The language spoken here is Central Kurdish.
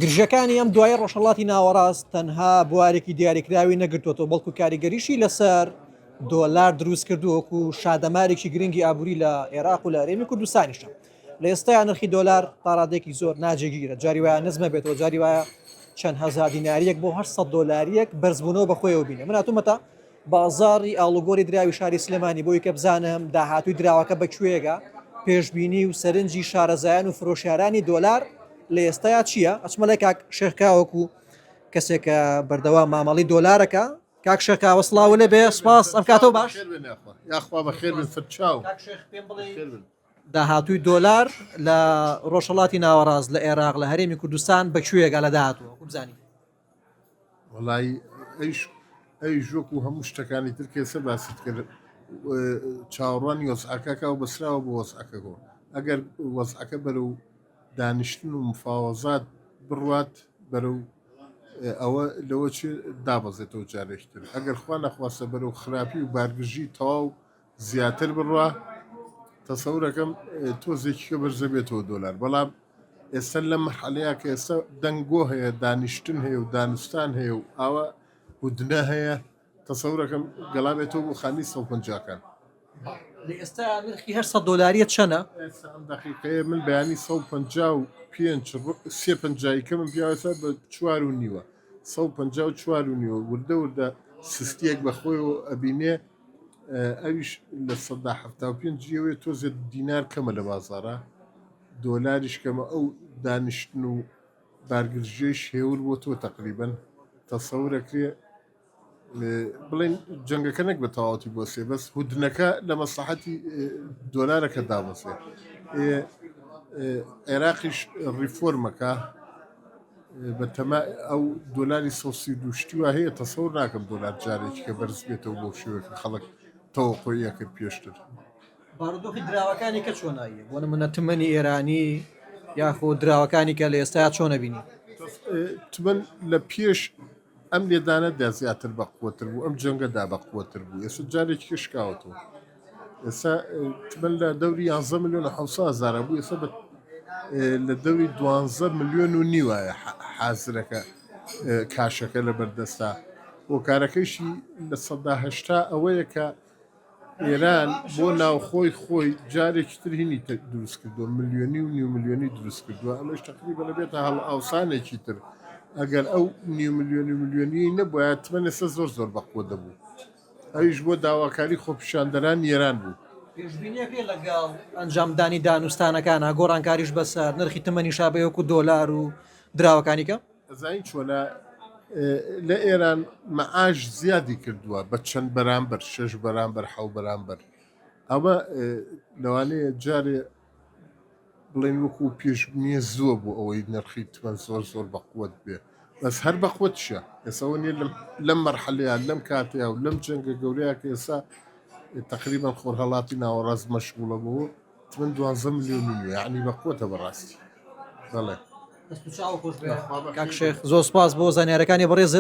گرژەکانی ئەم دوایە ڕۆژهەڵاتی ناوەڕاست تەنها بوارێکی دیاریکراوی نەگرتووەوە بەڵکو کاریگەریشی لەسەر دۆلار دروست کردووەکو و شادەمارێکی گرنگی ئابووری لە عێراق و لە هەرێمی کوردستانیشە لە ئێستا نرخی دۆلار تاڕادێکی زۆر ناجێگیرە جاری وایە نزمە بێتەوە جاری وایە چەند هزار دیناریەک بۆ 800 دلاریەک بەرزبوونەوە بەخۆیەوە بینە مناتومەتە بازاڕی ئاڵوگۆری دراوی شاری سلێمانی بۆی کە بزانم داهاتوی دراوەکە بە کوێگە پێشببینی و سەرنجی شارەزایان و فرۆشارانی دۆلار لە ئێستایا چییە ئەچمە لای کاک شێرکاوەکو کەسێکە بەردەوام مامەڵی دۆلارەکە کاک شەکاوە سلااو لە بێ سپاس ئەم کاتەوە باش یاخوا بە خێر سەرچاو داهاتووی دۆلار لە ڕۆژهڵاتی ناوەڕاست لە عێراق لە هەرێمی کوردستان بەکوێگە لە داهاتوە بزانانی وەڵایی ئەیش ئەیش وەکو هەموو شتەکانی تر کێسە باست کرد چاوەڕوانی وەزعەکەکە و بەسراوە بۆ وەزعەکە گۆ ئەگەر وەزعەکە بەرە و دانیشتن و مفاوەزات بڕوات بەرە و ئەوە لەوە چ دابەزێتەوە جارێکتر ئەگەر خوا نەخواستە بەرە و خراپی و بارگرژی تەواو زیاتر بڕا تەسەورەکەم تۆزێکیکە بەرزە بێتەوە دۆلار بەڵام ئێستا لەم حەلەیە کە ئێستا دەنگۆ هەیە دانیشتن هەیە و دانوستان هەیە و ئاوە هودنە هەیە تەسەورەکەم گەڵابێتەوە بۆ خانی سە پنجکان ئێستا نرخی هەر سە دۆلاریە چەنە دقیقەیە من بەیانی سە پ و پێنج سێ پنجایکە من پیاوەسە بە چوار و نیوە سە پ و چوار و نیوە وردە وردە سستیەک بەخۆی و ئەبینێ ئەویش لە سەدا حەفتا و پێنج یەوێ تۆزێ دینار کەمە لە بازارە دۆلاریش کەمە ئەو دانیشتن و بارگرژێش هێور بۆ تۆ تەقریبن تەسەورەکرێ بڵین جەنگەکە نەک بە تەواوەتی بۆ سێ بەس هودنەکە لە مەسەحەتی دۆلارەکە دابەسێ عێراقیش ڕیفۆرمەکە بە تەمای ئەو دۆلاری سەد و سی و دوو شتی وا هەیە تەسەور ناکەم دۆلار جارێکی کە بەرز بێتەوە بەو شێوەیە کە خەڵک تەوەقۆی ئەکرد پێشتر. بارودۆخی دراوەکانی کە چۆن ئەوی بۆ نمونە تمەنی ئێرانی یاخۆ دراوەکانی کە لە ئێستایا چۆن ئەبینی؟ تمەن لە پێش ئەم لێدانەدا زیاتر بە قوەتر بوو ئەم جەنگەدا بە قوەتر بوو ئێستا جارێکی کە شکاوەتەوە. ئێستا تمەن لە دەوری یانزە ملیۆن و حەوت سەد هەزارە بوو ئێستا لە دەوری دوانزە ملیۆن و نیوایە حازرەکە کاشەکە لە بەردەستا هۆکارەکەیشی لە سەدا هەشتا ئەوەیە کە ئێران بۆ ناوخۆی خۆی جارێکی تر هینی دروست کردووە ملیۆنی و نیو ملیۆنی دروست کردووە ئەمەش تەقلی بە لەبێتە هەڵ ئاوسانێکی تر ئەگەر ئەو نیو ملیۆنی ملیۆنی نەبووە تمەنەسە زۆر زۆر بەقوە دەبوو ئەویش بۆ داواکاری خۆپیشاندەرانی ئێران بوو. پێشبینییەکەی لەگەڵ ئەنجامدانی دانوستانەکانە، گۆڕانکاریش بەسەر نرخی تمەنی شا بە یۆکو دۆلار و دراوەکانی کە. ئەزانین چۆنە لە ئێران مەعاش زیادی کردووە بە چەند بەرامبەر، شەش بەرامبەر، حەو بەرامبەر، ئەمە لەوانەیە جارێ. بڵێن وەکو پێش نیە زووە بۆ ئەوەی نرخی تمەن زۆر زۆر بەقوت بێ بەس هەر بەقوتشە ئێسەوە نیە لەم مەرحەلەیە لەم کاتەیە و لەم جەنگە گەورەیە کە ئێسا تقریبا خۆرهەڵاتی ناوەڕاست مەشغوڵە بۆ تمەن دوازە ملیۆن یعنی بەقوتە بەڕاستی بەڵێ کاک شێخ زۆر سپاس بۆ زانیارەکانی بەڕێزت